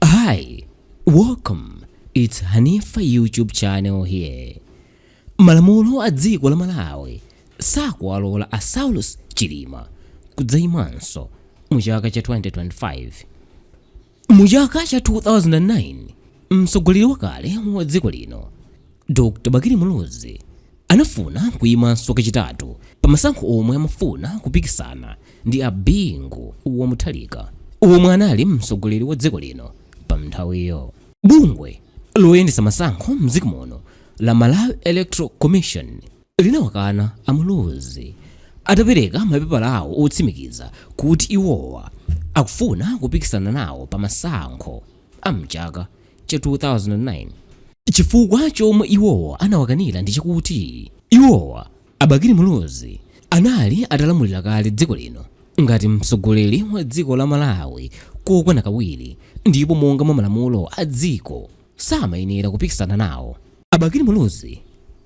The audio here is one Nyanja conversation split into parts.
Hi, welcome. It's Hanifa YouTube channel here. Malamulo a dziko la Malawi sakuwalola a Saulos Chilima kudzaimanso mu chaka cha 2025. Mu chaka cha 2009, mtsogoleri wakale wa dziko lino Dr. Bakili Muluzi anafuna kuyimanso kachitatu pa masankho omwe amafuna kupikisana ndi a Bingu wa Mutharika omwe anali mtsogoleri wa dziko lino pa mnthawiyo. Bungwe loyendetsa masankho mdziko muno la Malawi Electoral Commission linawakana a Muluzi atapereka mapepala awo otsimikiza kuti iwowa akufuna kupikisana nawo pa masankho a mchaka cha 2009. Chifukwa chomwe iwowa anawakanira ndi chakuti iwowa, a Bakili Muluzi, anali atalamulira kale dziko lino ngati mtsogoleri wa dziko la Malawi kokwana kawiri ndipo monga mwa malamulo a dziko samayenera kupikisana nawo. A Bakili Muluzi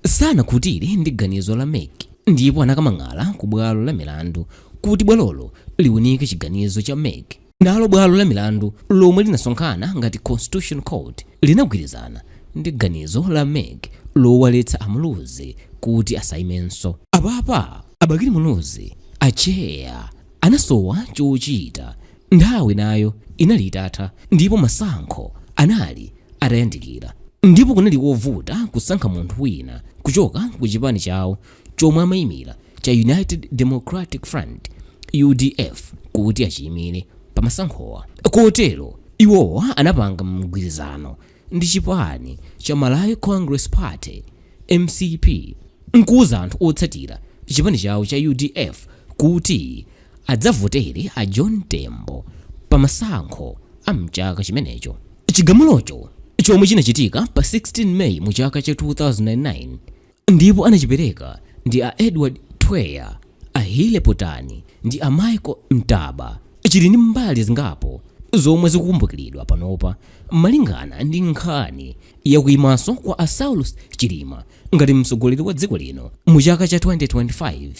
sanakhutire ndi ganizo la mec ndipo anakamang'ala ku bwalo la milandu kuti bwalolo liunike chiganizo cha mec. Nalo bwalo la milandu lomwe linasonkhana ngati Constitution Court linagwirizana ndi ganizo la mec lowaletsa a Muluzi kuti asaimenso. Apapa a Bakili Muluzi, atcheya, anasowa chochita. Nthawi nayo inali itatha ndipo masankho anali atayandikira ndipo kunali kovuta kusankha munthu wina kuchoka ku chipani chawo chomwe amaimira cha United Democratic Front, udf, kuti achiimire pamasankhowa. Kotero, iwowa anapanga mgwirizano ndi chipani cha Malawi Congress Party, mcp, nkuuza anthu otsatira chipani chawo cha udf kuti adzavotere a John Tembo pamasankho a mchaka chimenecho. Chigamulocho, chomwe chinachitika pa 16 May mu chaka cha 2009, ndipo anachipereka ndi a Edward Twea, a Healey Potani ndi a Michael Mtambo. Chili ndi mbali zingapo zomwe zikukumbukiridwa panopa malingana ndi nkhani ya kuimanso kwa a Saulos Chilima ngati mtsogoleri wa dziko lino mu chaka cha 2025.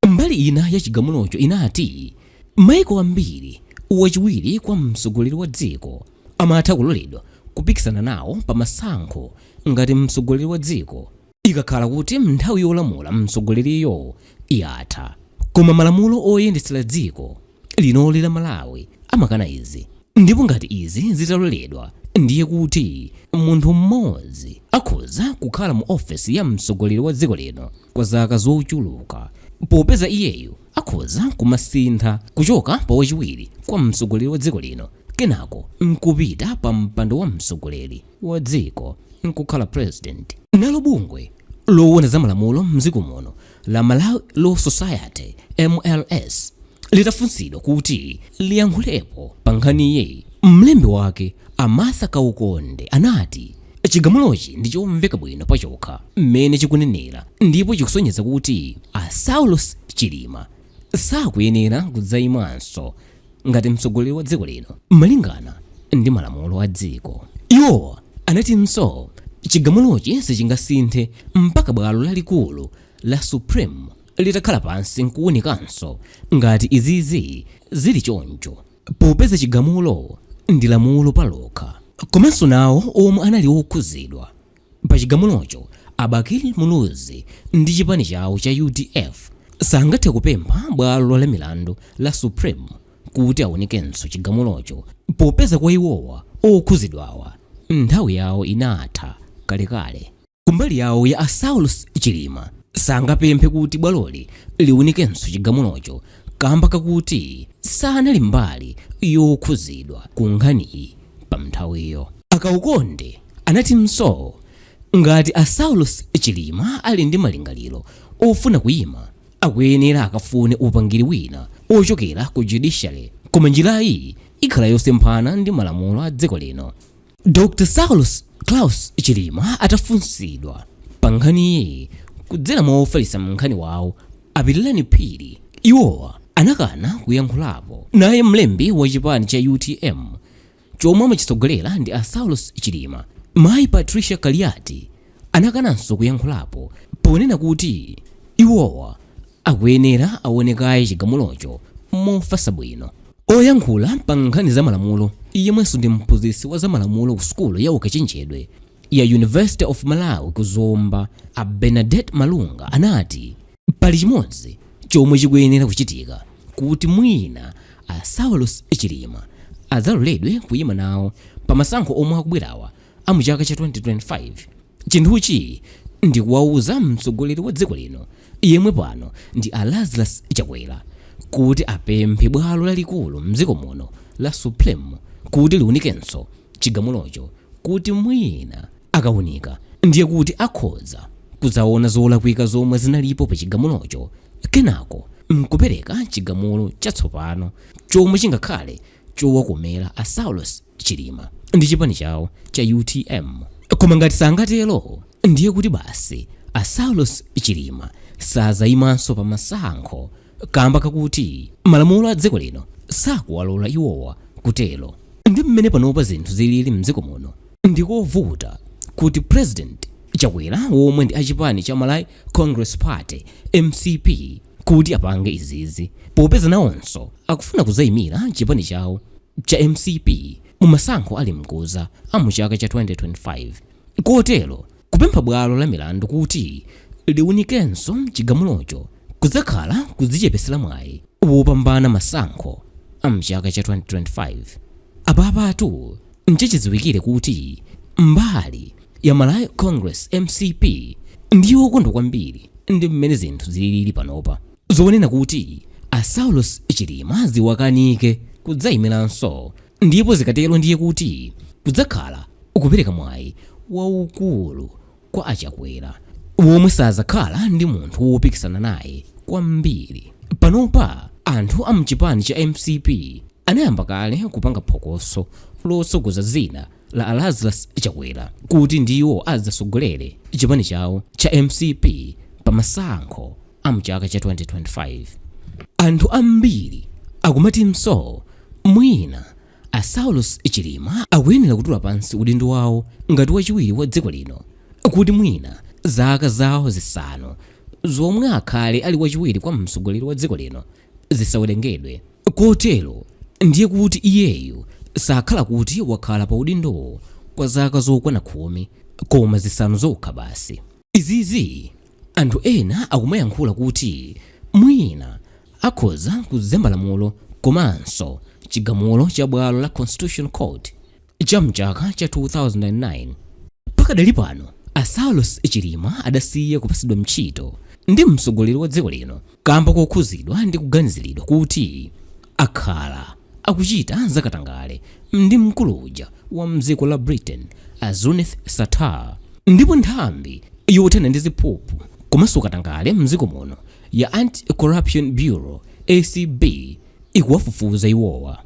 Mbali ina ya chigamulocho inati, Maiko ambiri, wachiwiri kwa mtsogoleri wa dziko, amatha kuloledwa kupikisana nawo pa masankho ngati mtsogoleri wa dziko ikakhala kuti nthawi yolamula mtsogoleriyo yatha. Koma malamulo oyendetsera dziko. linoli la Malawi amakana izi ndipo ngati izi zitaloledwa ndiye kuti munthu mmodzi akhoza kukhala mu ofesi ya mtsogoleri wa dziko lino kwa zaka zochuluka popeza iyeyo akhoza kumasintha kuchoka pa wachiwiri kwa mtsogoleri wa dziko lino kenako nkupita pa mpando wa mtsogoleri wa dziko nkukhala president nalo bungwe lowona za malamulo mdziko muno la Malawi Law Society MLS litafunsidwa kuti liyankhulepo pa nkhaniyi, mlembi wake a Martha Kaukonde anati chigamulochi ndi chomveka bwino pachokha mmene chikunenera ndipo chikusonyeza kuti a Saulos Chilima sakuyenera kudzayimanso ngati mtsogoleri wa dziko lino malingana ndi malamulo a dziko iwo anatinso chigamulochi sichingasinthe mpaka bwalo lalikulu la supreme litakhala pansi nkuunikanso ngati izizi zili choncho popeza chigamulo ndi lamulo palokha komanso nawo omwe anali okhuzidwa Pa chigamulocho, a Bakili Muluzi ndi chipani chawo cha udf sangathe kupempha bwalo la milandu la Supreme kuti awunikenso chigamulocho popeza kwa iwowa okhuzidwawa nthawi yawo inatha kalekale. Kumbali yawo ya a Saulos Chilima sangapemphe kuti bwaloli liwunikenso chigamulocho kamba kakuti sanali mbali yokhuzidwa ku nkhaniyi pa nthawiyo. A Kaukonde anatinso ngati a Saulos Chilima ali ndi malingaliro ofuna kuima akuyenera akafune upangiri wina ochokera ku Judiciary koma njirayi ikhala yosemphana ndi malamulo a dziko lino. Dr. Saulos Klaus Chilima atafunsidwa pa nkhaniyi kudzera mwa ofalitsa nkhani wawo a Pilirani Phiri, iwowa anakana kuyankhulapo. Naye mlembi wa chipani cha UTM chomwe amachitsogolera ndi a Saulos Chilima, mayi Patricia Kaliati anakananso kuyankhulapo ponena kuti iwowa akuyenera awone kaye chigamulocho mofatsa bwino. Oyankhula pa nkhani za malamulo yemwenso ndi mphunzitsi wa za malamulo ku sukulu ya ukachenjedwe ya University of Malawi ku Zomba, a Bernadette Malunga anati pali chimodzi chomwe chikuyenera kuchitika kuti mwina a Saulos Chilima adzaloledwe kuyima nawo pa masankho omwe akubwerawa a mu chaka cha 2025 chinthuchi ndikuwauza mtsogoleri wa dziko lino yemwe pano ndi a Lazarus Chakwera kuti apemphe bwalo lalikulu mdziko muno la Supreme kuti liunikenso chigamulocho kuti mwina akaunika ndiye kuti akhoza kudzaona zolakwika zomwe zinalipo pa chigamulocho kenako mkupereka chigamulo chatsopano chomwe chingakhale chowakomera a Saulos Chilima ndi chipani chawo cha utm. Koma ngati sangatero ndiye kuti basi a Saulos Chilima sazayimanso pa masankho kamba kakuti malamulo a dziko lino sakuwalora iwowa kutero. Ndi mmene panopa zinthu zilili mdziko muno ndikovuta kuti President Chakwera womwe ndi a chipani cha Malawi Congress Party, mcp, kuti apange izizi popeza nawonso akufuna kuzaimira chipani chawo cha mcp mu masankho ali mkuza a mu chaka cha 2025 kotero kupempha bwalo la milandu kuti liunikenso chigamulocho kudzakhala kudzichepesera mwayi wopambana masankho a mchaka cha 2025 apapatu nchachidziwikire kuti mbali ya Malawi Congress mcp ndiyo yokondwa kwambiri ndi mmene zinthu zilili panopa zonena kuti a Saulos Chilima ziwakanike kudzayimiranso ndipo zikatero ndiye kuti kudzakhala kupereka mwayi waukulu kwa a Chakwera womwe sazakhala ndi munthu wopikisana naye kwambiri panopa anthu a mchipani cha mcp anayamba kale kupanga phokoso lotsogoza zina la a Lazarus Chakwera kuti ndiwo adzasogolere chipani chawo cha mcp pa masankho a mchaka cha 2025 anthu ambiri akumatinso mwina a Saulos Chilima akuyenera kutula pansi udindo wawo ngati wachiwiri wa dziko lino kuti mwina zaka zawo zisanu zomwe akhale ali wachiwiri kwa mtsogoleri wa dziko lino zisawerengedwe. Kotero ndiye kuti iyeyu sakhala kuti wakhala pa udindowo kwa zaka zokwana khumi, koma zisanu zokha basi. Izizi anthu ena akumayankhula kuti mwina akhoza kuzemba lamulo komanso chigamulo cha bwalo la Constitutional Court cha mchaka cha 2009. Pakadali pano a Saulos Chilima adasiya kupasidwa ntchito ndi mtsogoleri wa dziko lino kamba kokhuzidwa ndi kuganiziridwa kuti akhala akuchita zakatangale ndi mkulu uja wa mdziko la Britain a Zuneth Sattar. Ndipo nthambi yothana ndi ziphuphu komanso katangale mdziko muno ya Anti-Corruption Bureau, acb, ikuwafufuza iwowa.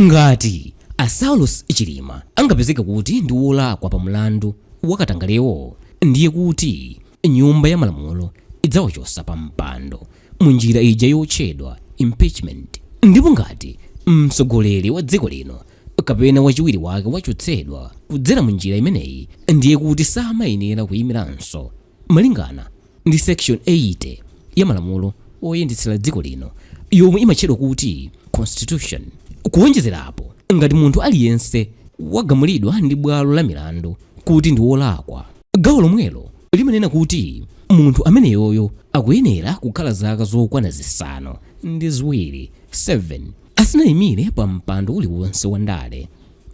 Ngati a Saulos Chilima angapezeka kuti ndi wolakwa pa mlandu wa katangalewo, ndiye kuti nyumba ya malamulo idzawachosa pa mpando mu njira ija yotchedwa impeachment. Ndipo ngati mtsogoleri wa dziko lino kapena wachiwiri wake wachotsedwa kudzera mu njira imeneyi, ndiye kuti samayenera kuyimiranso Malingana ndi section 80 ya malamulo oyendetsera dziko lino yomwe imatchedwa kuti Constitution. Kuonjezerapo, ngati munthu aliyense wagamulidwa ndi bwalo la milandu kuti ndi wolakwa, gawo lomwelo limanena kuti munthu ameneyoyo akuyenera kukhala zaka zokwana zisanu ndi ziwiri 7 asanaimire pa mpando uliwonse wa ndale.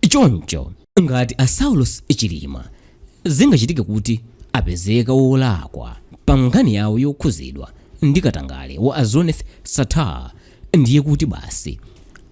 Choncho. ngati a saulos chilima zingachitike kuti apezeka wolakwa pa nkhani yawo yokhuzidwa ndi katangale wa a zuneth sattar ndiye kuti basi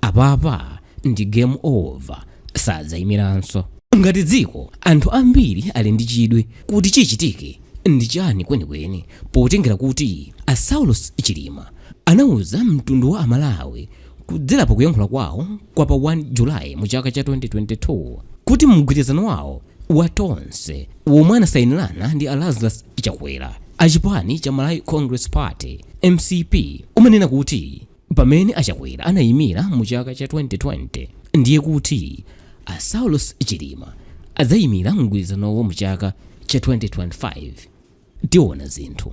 apapa ndi game over sadzayimiranso ngati dziko anthu ambiri ali ndi chidwi kuti chichitike ndi chani kwenikweni potengera kuti a saulos chilima anauza mtundu wa amalawi kudzera pa kuyankhula kwawo kwa pa 1 July mu chaka cha 2022 kuti mgwirizano wawo wa Tonse womwe anasayinirana ndi a Lazarus Chakwera a chipani cha Malawi Congress Party mcp umanena kuti pamene a Chakwera anayimira mu chaka cha 2020 ndiye kuti a Saulos Chilima adzayimira mgwirizanowo mu chaka cha 2025 tiona zinthu.